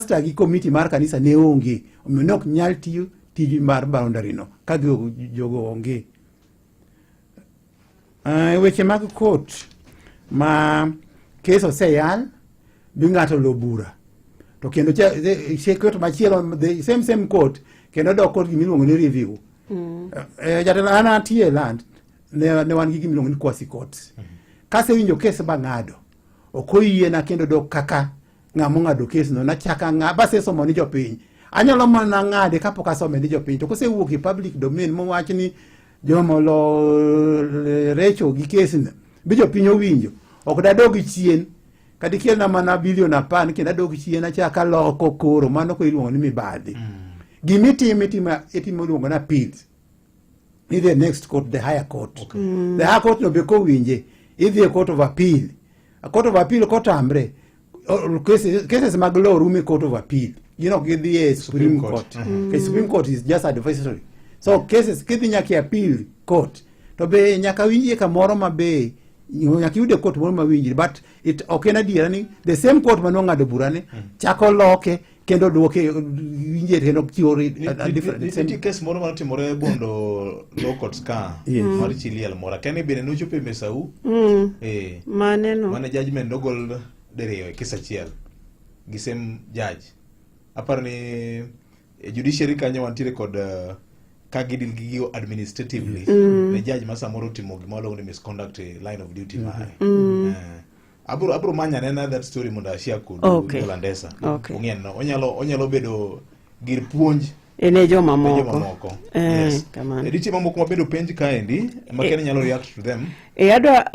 pasta gi komiti mar kanisa ne onge omiyo ne ok nyal tiyo tij mar boundary no ka jogo onge uh, weche mag court ma kes oseyal bi ng'ato lo bura to kendo court machielo the same same court kendo dok court gimiluongo ni review mm. uh, eh, jatelo an atie e land ne, ne wan gi gimiluongo ni quasi court mm -hmm. kasewinjo kes bang'ado ok oyiena kendo dok kaka ng'a mong'ado kesno nachaka ng'a basesomo ni jopiny anyalo mana ng'ade kapok asome ni jopiny to kosewuok e public domain mowach ni jomolorecho gi kesno bi jopiny owinjo ok dadog chien kadikelna mana bilion apar kendo adog chien achaka loko koro mano ko iluongo ni mibadhi mm. gimitimo itimo iluongo na appeals idhi e next court the higher court okay. mm. the higher court no be kowinje idhi e court of appeal a court of appeal kotamre cases, cases mag law rume court of appeal you know gidhi e supreme court, court. Uh -huh. mm. supreme court is just advisory so yeah. cases kidhi nyaka e appeal court to be nyaka winjie kamoro ma be nyaka yude court moro ma winjire but it ok en adiera ni the same court ma nong'ado burane mm. chako loke kendo dwoke winje kendo chiwo nitie kes moro mane otimore bondo law courts ka mar chi liel moro akene bende nochopo e mesau mm. eh. maneno mane judgment nogol diriyo e kes achiel gi same judge aparo ni e judiciary kanyo wantiere kod uh, ka gidil gi gigo administratively mm. ne judge ma samoro otimo gima waluongo ni misconduct e line of duty mm-hmm. mare mm. uh, abro abro manya nena that story mondo ashia kod okay. Landesa okay. ong'en onyalo onyalo bedo gir puonj ene joma moko eh, yes. kamano e diche mamoko ma bedo penj kaendi ma eh, nyalo react to them eh, adwa